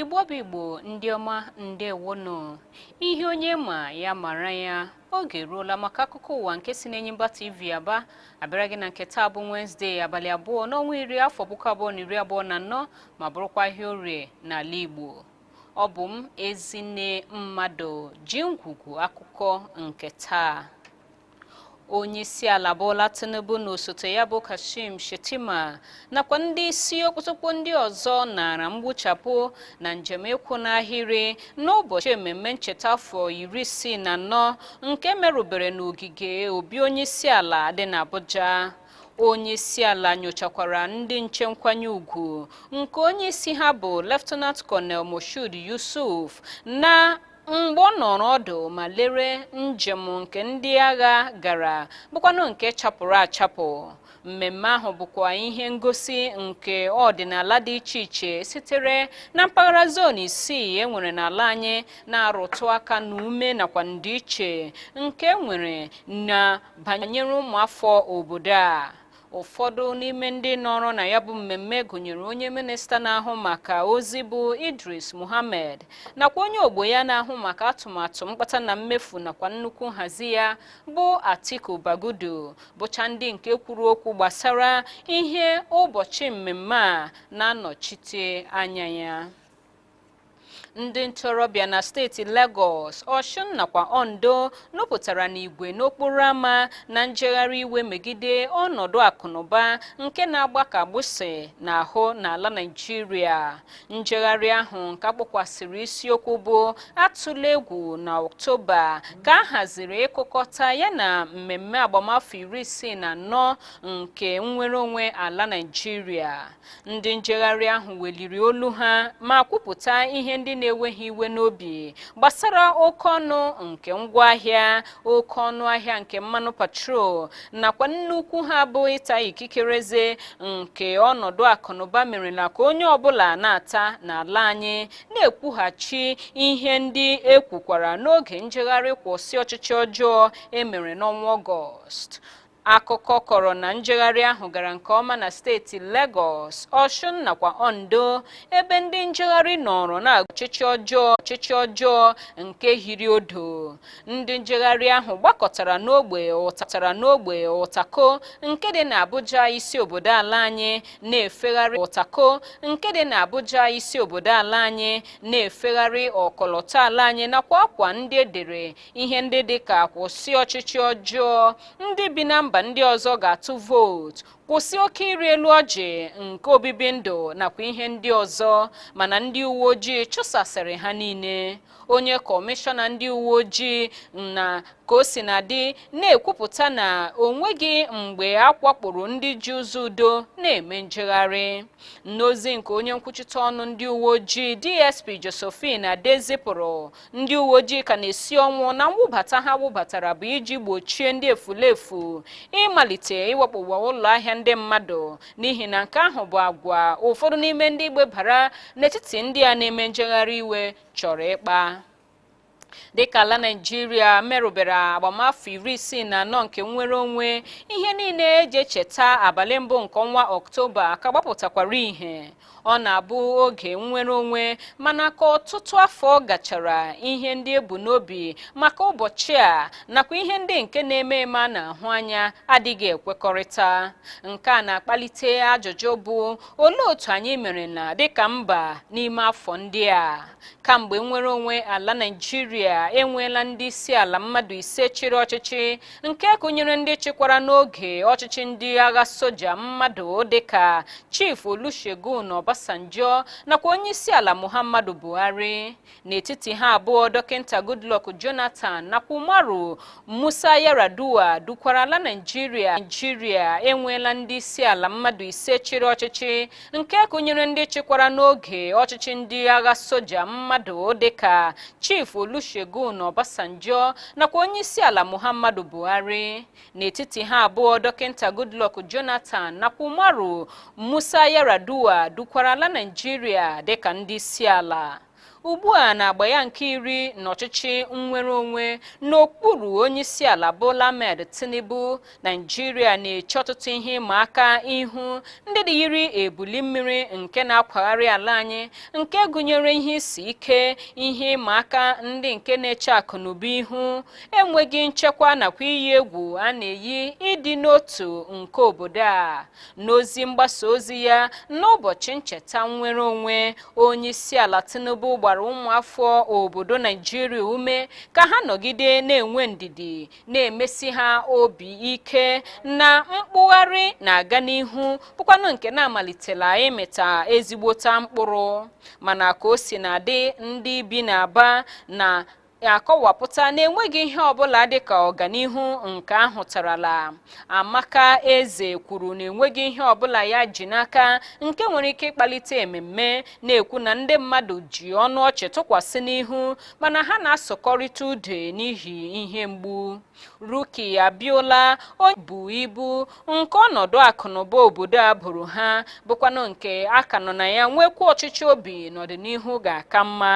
igbo bụ igbo ndị ọma ndewonụ ihe onye ma ya mara ya oge eruola maka akụkọ ụwa nke si n'enyimba tv aba abịara gị na nke taa bụ wenezdee abalị abụọ n'ọnwa iri afọ puku abụọ na iri abụọ na anọ ma bụrụkwa ahịa orie n'ala igbo ọ bụ m ezinne mmadụ ji ngwugwu akụkọ nke taa onyeisiala Bola Tinubu na osote ya bụ Kashim Shettima nakwa ndị isi okpotokpo ndị ọzọ nara mgbuchapụ na njem ịkwụ n'ahịrị n'ụbọchị ememme ncheta afọ iri isii na anọ nke merubere n'ogige obi onyeisiala dị n'Abuja onye isi ala nyochakwara ndị nche nkwanye ugwu nke onye isi ha bụ Lieutenant Colonel Moshood Yusuf na mgbe ọ nọrọ ọdụ ma lere njem nke ndị agha gara bụkwanụ nke chapụrụ achapụ mmemme ahụ bụkwa ihe ngosi nke ọdịnala dị iche iche sitere na mpaghara zon isii e nwere n'ala anyị na-arụtụ aka na ume nakwa ndịiche nke e nwere na banyere ụmụafọ obodo a ụfọdụ n'ime ndị nọrọ na ya bụ mmemme gụnyere onye minista na-ahụ maka ozi bụ Idris Muhammad nakwa onye ogbo ya na-ahụ maka atụmatụ mkpata na mmefu nakwa nnukwu nhazi ya bụ Atiku Bagudu bụcha ndị nke kwuru okwu gbasara ihe ụbọchị mmemme a na-anọchite anya ya ndị ntorobịa na steeti Lagos Osun nakwa Ondo nupụtara n'igwe n'okporo ámá na njegharị iwe megide ọnọdụ akụnụba nke na-agba ka agbụsị n'ahụ n'ala Naịjirịa njegharị ahụ nke akpọkwasịrị isiokwu bụ atụla egwu na Ọktoba ka a haziri ịkụkọta ya na mmemme agbamafọ iri isii na anọ nke nnwere onwe ala Naịjirịa ndị njegharị ahụ weliri olu ha ma kwupụta ihe ndị na-ewe ha iwe n'obi gbasara oke ọnụ nke ngwaahịa oke ọnụ ahịa nke mmanụ petrol nakwa nnukwu ha bụ ịta ikikere eze nke ọnọdụ akụnụba merela ka onye ọbụla na-ata n'ala anyị na-ekwughachi ihe ndị ekwukwara n'oge njegharị kwụsị ọchịchị ọjọọ emere n'ọnwa ọgọst akụkọ kọrọ na njegharị ahụ gara nke ọma na steeti Lagos Ọshụn nakwa Ondo ebe ndị njegharị nọrọ na ọchịchị ọjọọ ọchịchị ọjọọ nke hiri odo ndị njegharị ahụ gbakọtara n'ogbe ụta tara n'ogbe ụtako nke dị na Abuja isi obodo ala anyị na-efegharị ụtako nke dị na Abuja isi obodo ala anyị na-efegharị ọkọlọtọ ala anyị nakwa akwa ndị edere ihe ndị dị ka kwụsị ọchịchị ọjọọ ndị bi na mba ndị ọzọ ga-atụ vootu kwụsị oke ịrị elu ọjị nke obibi ndụ nakwa ihe ndị ọzọ mana ndị uwe ojii chụsasịrị ha niile onye kọmishọna ndị uwe ojii na ka o si na dị na-ekwupụta na o nweghị mgbe a wakporo ndị ji ụzọ udo na-eme njegharị n'ozi nke onye nkwuchite ọnụ ndị uwe ojii dsp josephine adeh zipụrụ ndị uwe ojii ka na-esi ọnwụ na mwụbata ha wụbatara bụ iji gbochie ndị efulefu ịmalite ịwakpowa ụlọ ahịa ndị mmadụ n'ihi na nke ahụ bụ agwa ụfọdụ n'ime ndị gbebara n'etiti ndị a na-eme njegharị iwe chọrọ ịkpa dịka ala naijiria merubere agbamafọ iri isii na anọ nke nnwere onwe ihe niile eji echeta abalị mbụ nke ọnwa ọktoba ka gbapụtakwara ihe ọ na-abụ oge nnwere onwe mana ka ọtụtụ afọ gachara ihe ndị ebu n'obi maka ụbọchị a nakwa ihe ndị nke na-eme eme a na-ahụ anya adịghị ekwekọrịta nke a na-akpalite ajụjụ bụ olee otu anyị merena dịka mba n'ime afọ ndị a kamgbe nnwere onwe ala naijiria enweela ndị isi ala mmadụ ise chịrị ọchịchị nke gụnyere ndị chịkwara n'oge ọchịchị ndị agha soja mmadụ dịka chief olusegun obasanjo nakwa onye isi ala muhammadu buhari n'etiti ha abụọ dọkịta goodluck jonathan nakwa umaru musa yaradua dukwara ala naijiria naijiria enweela ndị isi ala mmadụ ise chịrị ọchịchị nke gụnyere ndị chịkwara n'oge ọchịchị ndị agha soja mmadụ dịka chief olusegun obasanjo nakwa onye isi ala muhammadu buhari n'etiti ha abụọ dọkịta goodluck jonathan nakwa umaru musa yaradua dukwara ala naijiria dịka ndị isi ala ugbu a na-agba ya nke iri n'ọchịchị nnwere onwe n'okpuru onyeisiala Bola Ahmed Tinubu Naijiria na-eche ọtụtụ ihe ịma aka ihu ndị dị yiri ebuli mmiri nke na-akwagharị ala anyị nke gụnyere ihe isi ike ihe ịma aka ndị nke na-eche akụ na ụba ihu enweghị nchekwa nakwa iyi egwu a na-eyi ịdị n'otu nke obodo a n'ozi mgbasa ozi ya n'ụbọchị ncheta nnwere onwe onyeisiala tinubu gbara ụmụafọ obodo naijiria ume ka ha nọgide na-enwe ndidi na-emesi ha obi ike na mkpụgharị na-aga n'ihu bụkwanụ nke na-amalitela ịmịta ezigbota mkpụrụ mana ka o si na dị ndị bi n'aba na akọwapụta na enweghị ihe ọbụla dịka ọganihu nke ahụtarala Amaka Eze kwuru na enweghị ihe ọbụla ya ji n'aka nke nwere ike ịkpalite ememme na-ekwu na ndị mmadụ ji ọnụ ọchị tụkwasị n'ihu mana ha na-asụkọrịta ude n'ihi ihe mgbu Ruki Abiola onye bu ibu nke ọnọdụ akụnụba obodo a bụrụ ha bụkwanụ nke a ka nọ na ya nwekwa ọchịchị obi na ọdịnihu ga-aka mma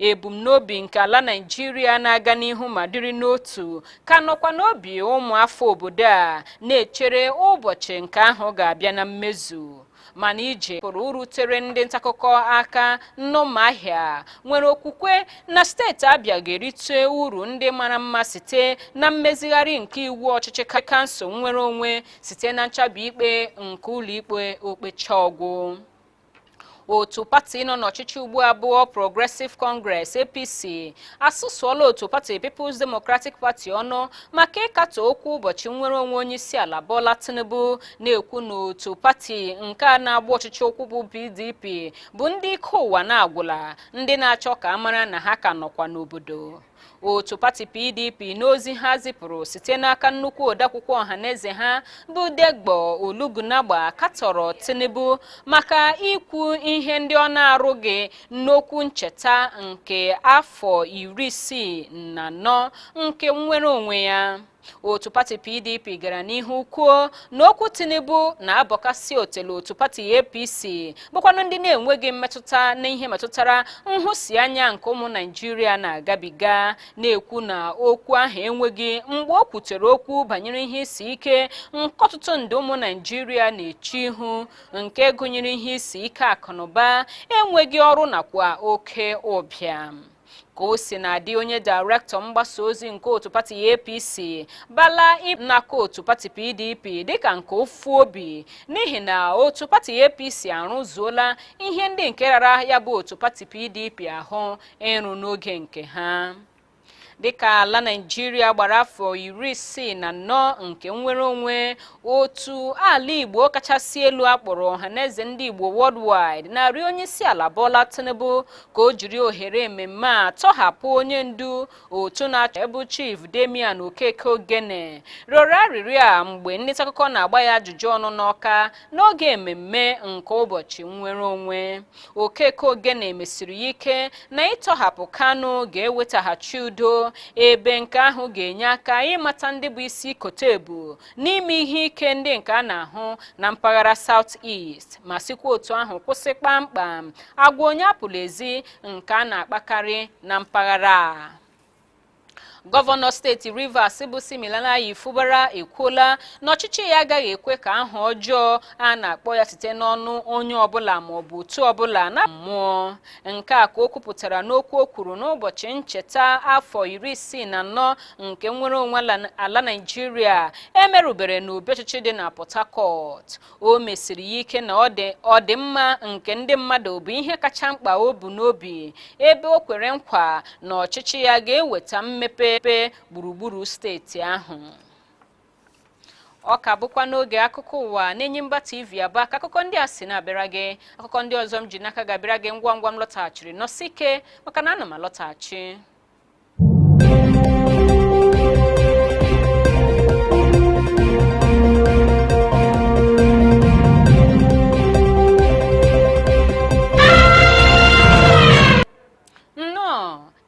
ebumnobi nke ala Naịjirịa na-aga n'ihu ma dịrị n'otu ka nọkwa n'obi ụmụafọ obodo a na-echere ụbọchị nke ahụ ga-abịa na mmezu mana ije pụrụ rutere ndị ntaakụkọ aka n'Ụmụahịa nwere okwukwe na steeti Abịa ga-erite uru ndị mara mma site na mmezigharị nke iwu ọchịchị kansụl nnwere onwe site na nchabi ikpe nke ụlọikpe okpecha ọgwụ otu pati nọ n'ọchịchị ugbu a bụ All Progressive Congress APC asụsụọla otu pati People's Democratic Party ọnụ maka ịkatọ okwu ụbọchị nnwere onwe onye isi ala Bola Tinubu na-ekwu na otu pati nke a na-agba ọchịchị ụkwụ bụ PDP bụ ndị ike ụwa na-agwụla ndị na-achọ ka a mara na ha ka nọkwa n'obodo otu pati PDP n'ozi ha zipụrụ site n'aka nnukwu odeakwụkwọ ọhaneze ha bụ Debo Ologunagba katọrọ Tinubu maka ikwu ihe ndị ọ na-arụghị n'okwu ncheta nke afọ iri isii na anọ nke nnwere onwe ya otu pati PDP gara n'ihu kwuo na okwu Tinubu na-abọkasị otele otu pati APC bụkwanụ ndị na-enweghị mmetụta n'ihe metụtara nhụsianya nke ụmụ naijiria na-agabiga na-ekwu na okwu ahụ enweghị mgbe o kwutere okwu banyere ihe isi ike nke ọtụtụ nde ụmụ naijiria na-eche ihu nke gụnyere ihe isi ike akụnụba enweghị ọrụ nakwa oke ụbịam ka o sina dị onye dairektọ mgbasa ozi nke otu pati APC Bala na-aka otu pati PDP dịka nke ufu obi n'ihi na otu pati APC arụzuola ihe ndị nke rara ya bụ otu pati PDP ahụ ịrụ n'oge nke ha dịka ala naijiria gbara afọ iri isii na anọ nke nnwere onwe otu ala igbo kachasị elu akpọrọ Ọhaneze Ndị Igbo Worldwide na-arịọ onye isi ala Bola Tinubu ka o jiri ohere ememme a tọhapụ onye ndu otu na-achọ ebu Chief Damian Okeke Ogene rịọrọ arịrịọ a mgbe ndị ntaakụkọ na-agba ya ajụjụ ọnụ n'Ọka n'oge ememme nke ụbọchị nnwere onwe Okeke Ogene mesiri ya ike na ịtọhapụ Kanu ga-ewetaghachi udo ebe nke ahụ ga-enye aka ịmata ndị bụ isi kote ebu n'ime ihe ike ndị nke a na-ahụ na mpaghara South East ma sikwa otu ahụ kwụsị kpamkpam agwa onye apụla ezi nke a na-akpakarị na mpaghara a. gọvanọ steeti rivers bụ Siminalayi Fubara ekwuola na ọchịchị ya agaghị ekwe ka aha ọjọọ a na-akpọ ya site n'ọnụ onye ọbụla ma ọ bụ otu ọbụla na mmụọ nke a ka o kwupụtara n'okwu o kwuru n'ụbọchị ncheta afọ iri isii na anọ nke nnwere onwe ala naijiria emerubere n'obi ọchịchị dị na port harcourt o mesiri ya ike na ọdịmma nke ndị mmadụ bụ ihe kacha mkpa o bu n'obi ebe o kwere nkwa na ọchịchị ya ga-eweta mmepe gburugburu steeti ahụ ọ ka bụkwa n'oge akụkọ ụwa n'Enyimba TV Aba ka akụkọ ndị a si na-abịara gị akụkọ ndị ọzọ m ji n'aka ga-abịara gị ngwa ngwa m lọtaghachiri nọsie ike maka na ana m alọtaghachi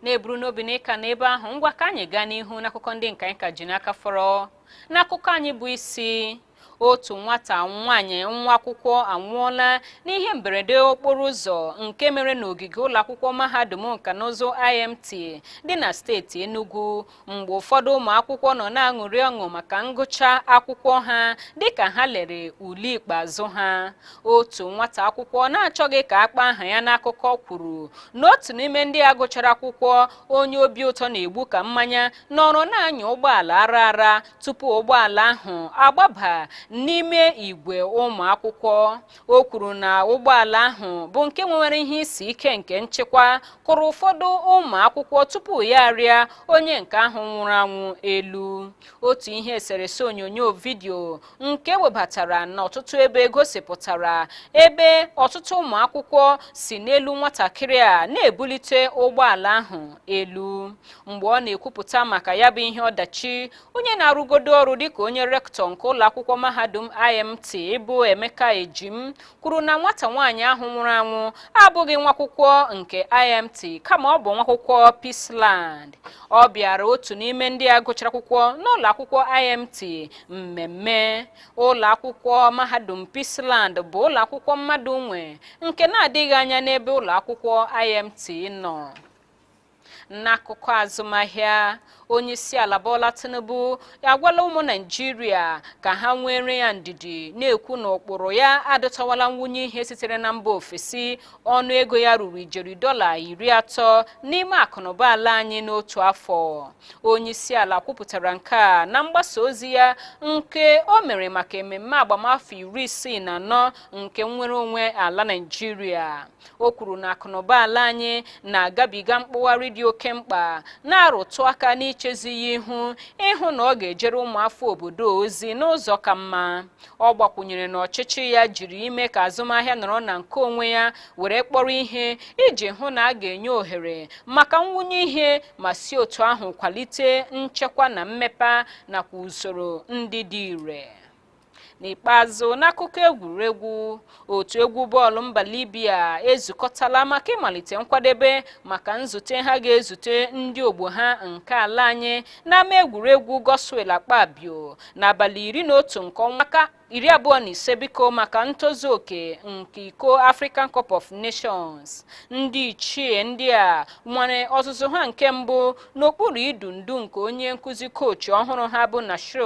na-eburu n'obi na ị ka nọ ebe ahụ ngwa ka anyị gaa n'ihu n'akụkọ ndị nke anyị ka ji n'aka fọrọ n'akụkọ anyị bụ isi otu nwata nwaanyị nwa akwụkwọ anwụọla n'ihe mberede okporo ụzọ nke mere n'ogige ụlọ akwụkwọ mahadum nka na ụzụ IMT dị na steeti Enugu mgbe ụfọdụ ụmụ akwụkwọ nọ na-aṅụrị ọṅụ maka ngụcha akwụkwọ ha dịka ha lere ule ikpeazụ ha otu nwata akwụkwọ na-achọghị ka a kpọọ aha ya n'akụkọ kwuru na otu n'ime ndị a gụchara akwụkwọ onye obi ụtọ na-egbu ka mmanya nọrọ na-anya ụgbọala ara ara tupu ụgbọala ahụ agbaba n'ime igwe ụmụ akwụkwọ o kwuru na ụgbọala ahụ bụ nke nwere ihe isi ike nke nchịkwa kụrụ ụfọdụ ụmụ akwụkwọ tupu ya arịa onye nke ahụ nwụrụ anwụ elu otu ihe eserese onyonyo vidiyo nke e webatara n'ọtụtụ ebe gosipụtara ebe ọtụtụ ụmụ akwụkwọ si n'elu nwatakịrị a na-ebulite ụgbọala ahụ elu mgbe ọ na-ekwupụta maka ya bụ ihe ọdachi onye na-arụgodo ọrụ dịka onye rektọ nke ụlọ akwụkwọ mahadum IMT bụ Emeka Ejim kwuru na nwata nwaanyị ahụ nwụrụ anwụ abụghị nwakwụkwọ nke IMT kama ọ bụ nwakwụkwọ Peaceland ọ bịara otu n'ime ndị a gụchara akwụkwọ n'ụlọ akwụkwọ IMT mmemme ụlọ akwụkwọ mahadum Peaceland bụ ụlọ akwụkwọ mmadụ nwe nke na-adịghị anya n'ebe ụlọ akwụkwọ IMT nọ n'akụkọ azụmahịa onyeisiala Bola Tinubu agwala ụmụ Naịjirịa ka ha nweere ya ndidi na-ekwu na ụkpụrụ ya adọtawala mwunye ihe sitere na mba ofesi ọnụ ego ya ruru ijeri dọla iri atọ n'ime akụnụba ala anyị n'otu afọ onyeisiala kwupụtara nke a na mgbasa ozi ya nke o mere maka ememme agbamafọ iri isii na anọ nke nnwere onwe ala Naịjirịa o kwuru na akụnụba ala anyị na-agabiga mkpụgharị dị oke mkpa na-arụtụ aka n'ichezi ya ihu ịhụ na ọ ga-ejere ụmụafọ obodo ozi n'ụzọ ka mma ọ gbakwụnyere na ọchịchị ya jiri ime ka azụmahịa nọrọ na nke onwe ya were kpọrọ ihe iji hụ na a ga-enye ohere maka mwunye ihe ma si otu ahụ kwalite nchekwa na mmepe nakwa usoro ndị dị ire n'ikpeazụ n'akụkọ egwuregwu otu egwu bọọlụ mba libya ezukọtala maka ịmalite nkwadebe maka nzute ha ga-ezute ndị ogbo ha nke ala anyị n'ama egwuregwu godswill akpabio n'abalị iri na otu nke ọnwa a ka iri abụọ na ise biko maka ntozu oke nke iko african cup of nations ndị ichie ndị a nwere ọzụzụ ha nke mbụ n'okpuru idu ndu nke onye nkuzi kochi ọhụrụ ha bụ nasser